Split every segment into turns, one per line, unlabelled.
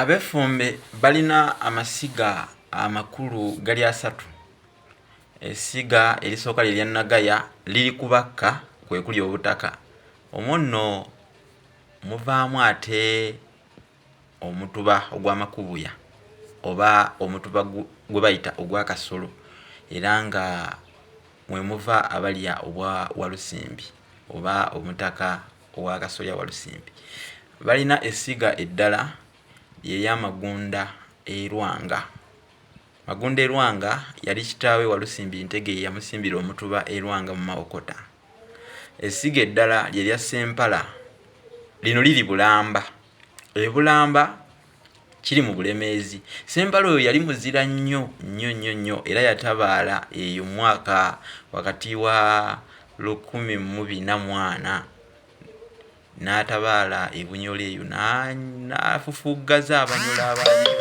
Abefumbe balina amasiga amakulu gali asatu. Essiga erisooka lye lya Nagaya liri ku Bakka kwe kuli Obutaka. Omwo nno muvaamu ate Omutuba ogwa Makubuya oba Omutuba gwe bayita ogwa Kasolo era nga mwe muva abalya obwa Walusimbi oba Omutaka. ow'akasolya Walusimbi balina essiga eddala lye lya Magunda e Lwanga. Magunda e Lwanga yali kitaawe Walusimbi Ntege ye yamusimbira omutuba e Lwanga mu Mawokota. Essiga eddala lye lya Ssempala, lino liri Bulamba. E Bulamba kiri mu bulemeezi sembala oyo yali muzira nnyo nnyo nnyo nnyo era yatabaala eyo mwaka wakati wa lukumi mubina mwana n'atabaala ebunyola eyo n'afufuggaza abanyola abali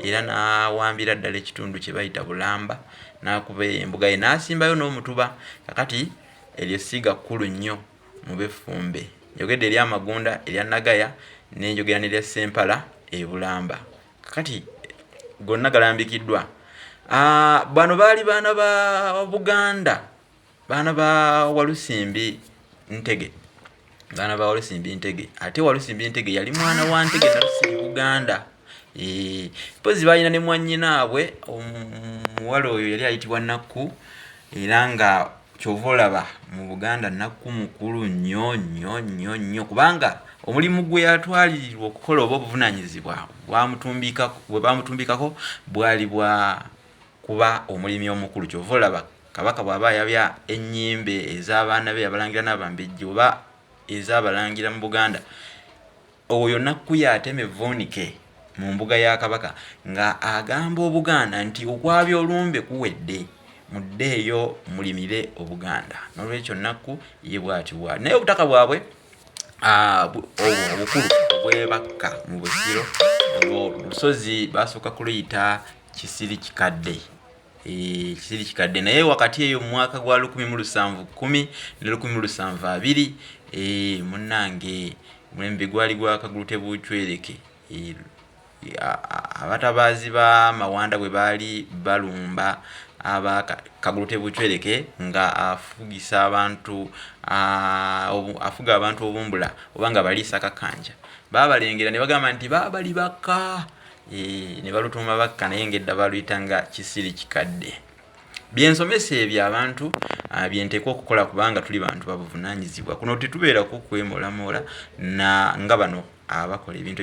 era n'awambira ddala ekitundu kye bayita bulamba n'akuba embuga ye n'asimbayo n'omutuba kakati eryo ssiga kkulu nnyo mu b'effumbe. Njogedde erya Magunda, erya Nagaya ne njogera n'erya Ssempala e Bulamba. Kakati gonna galambikiddwa. Ah, bano baali baana ba Buganda, baana ba Walusimbi Ntege. Baana ba Walusimbi Ntege. Ate Walusimbi Ntege yali mwana wa Ntege Nalusimbi Buganda. mpozi balina ne mwanyinaabwe omuwala oyo yali ayitibwa nakku era nga kyova olaba mu buganda nakku mukulu nnyo nnyo nnyo nnyo kubanga omulimu gwe yatwalirirwa okukola oba obuvunanyizibwa bwebamutumbikako bwali bwa kuba omulimi omukulu kyova olaba kabaka bwaba yabya enyimbe ez'abaana be yabalangira n'abambejja oba ez'abalangira mu buganda Oyo nakkuya atema evvuunike mu mbuga ya Kabaka nga agamba Obuganda nti okwabya olumbe kuwedde, muddeeyo mulimire Obuganda. N'olwekyo Nakku ye bwatyo bwali. Naye obutaka bwabwe obukulu obwebakka mu Busiro, olwo olusozi baasooka kuluyita Kisirikikadde. ekisiri kikadde naye wakati eyo mu mwaka gwa lukumi mu lusanvu kkumi ne lukumi mu lusanvu abiri eh, munnange mulembe gwali gwakagulu tebucwereke eh, abatabaazi ba mawanda bwe baali balumba aba kagulu tebucwereke nga afugisa abantu afuga abantu obumbula oba nga baliisa kakanja babalengera ne bagamba nti baabali bakka Eee, ne balutuuma bakka naye ng'edda baluyita nga kisiri kikadde byensomesa ebyo abantu ah, byenteeka okukola kubanga tuli bantu babuvunanyizibwa kuno tetubeerako kwemolamoola nga bano abakola ebintu